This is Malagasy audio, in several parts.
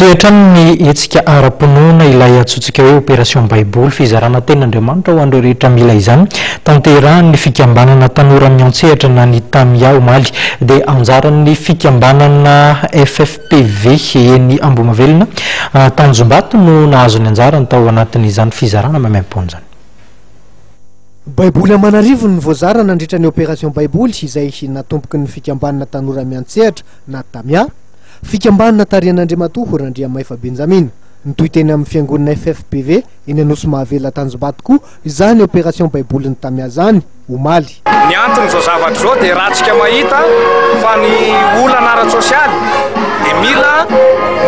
Mitohy hatrany ny hetsika ara-pinoana ilay antsointsika hoe Opération Baiboly, fizarana Tenin'Andriamanitra ho an'ireo rehetra mila izany, tanterahin'ny fikambanana Tanora Miantsehatra na ny Tamia omaly. Dia anjaran'ny fikambanana FFPV eny Ambohimavelona, Tanjombato no nahazo ny anjarany tao anatin'izany fizarana maimaim-poana izany. Baiboly aman'arivony no voazara nandritra ny Opération Baiboly izay natomboky ny fikambanana Tanora Miantsehatra na Tamia. Fikambanana tarihan'Andriamatoa Randriamaifa Benjamina. Nitohy teny amin'ny fiangonana FFBV eny Anosimahavela Tanjombato koa izany opération baibolin'i Tamiazany, omaly. Ny anton'izao zavatra izao dia raha antsika mahita fa ny olana ara-tsosialy dia mila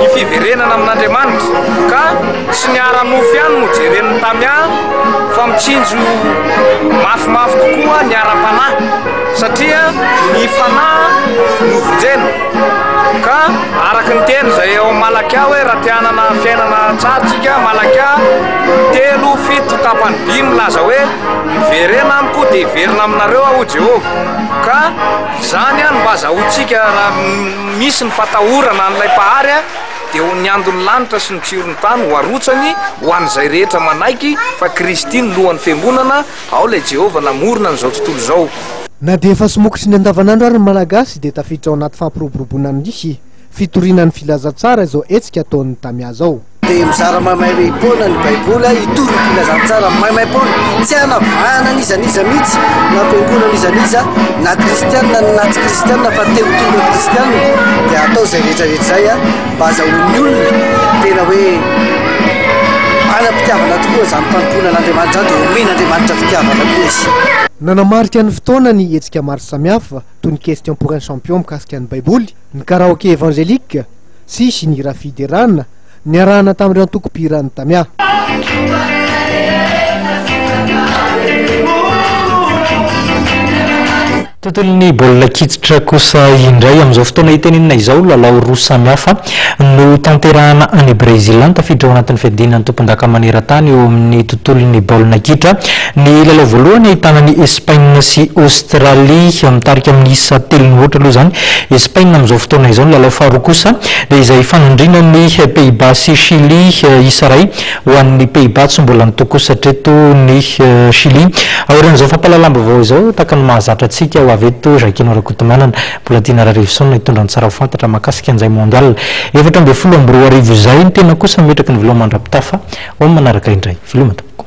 ny fiverenana amin'Andriamanitra ka tsy ny ara-nofo ihany no jeren'ny Tamia fa mitsinjo mafimafy kokoa ny ara-panahy. satria ny fanahy no vonjena ka araka ny teny izay ao amin'ny Malakia hoe raha te hanana fiainana tsara tsika Malakia telo fito tapany dimy milaza hoe miverena amiko dia hiverina aminareo aho Jehovah ka izany no mba azahoantsika raha misy ny fatahorana an'ilay Mpahary dia ho ny andon'ny lanitra sy ny tsiron'ny tany ho arotsany ho an'izay rehetra manaiky fa Kristy no lohan'ny fiangonana Ao ilay Jehovah namorona an'izao tontolo izao. Na dia efa somokitry ny andavanandro ary ny Malagasy dia tafiditra ao anaty fampiroboroboana amin'ny fitoriana ny Filazantsara izao hetsika ataon'ny Tamia izao. Dia mizara maimaimpoana ny Baiboly hitory ny Filazantsara maimaimpoana. Tsy hanavahana n'iza n'iza mihitsy, na fiangonana n'iza n'iza, na kristiana na tsy kristiana fa te ho tonga kristiana dia atao izay rehetra rehetra izay. Baza ho ny olona tena hoe manam-pitiavana tokoa izany fanompoana an'Andriamanitra izany dia omena Andriamanitra fitiavana koa izy. Nanamarika ny fotoana ny hetsika maro samihafa toy ny Question pour un champion mikasika ny Baiboly, ny Karaoke Evangelique, sy sy ny hira fiderana, niarahana tamin'ireo antokom-pihiran'ny Tamia. Tontolon'ny baolina kitra kosa indray. Amin'izao fotoana hitenenina izao, lalao roa samihafa no tanterahana any Brezila, tafiditra ao anatin'ny fiadiana ny tompondaka maneran-tany eo amin'ny tontolon'ny baolina kitra. Ny lalao voalohany ahitana an'i Espaina sy Aostralia, mitarika amin'ny isa telo mihoatra aloha izany Espaina amin'izao fotoana izao. Ny lalao faharoa kosa dia izay ifanandrinan'ny Pays-Bas sy Shily, isa iray ho an'ny Pays-Bas, tsy mbola nitokosatra eto ny Chili. Aorian'izao fampahalalam-baovao izao, tahaka ny mahazatra antsika ho avy eto, Jacquino Rakotomanana, mbola Dina Rarivison hitondra ny tsara ho fantatra mahakasika an'izay Mondial efatra ambin'ny folo amby roa arivo izay. Ny tena kosa mimetraka ny veloma mandra-pitafa. Home manaraka indray. Veloma tompoko.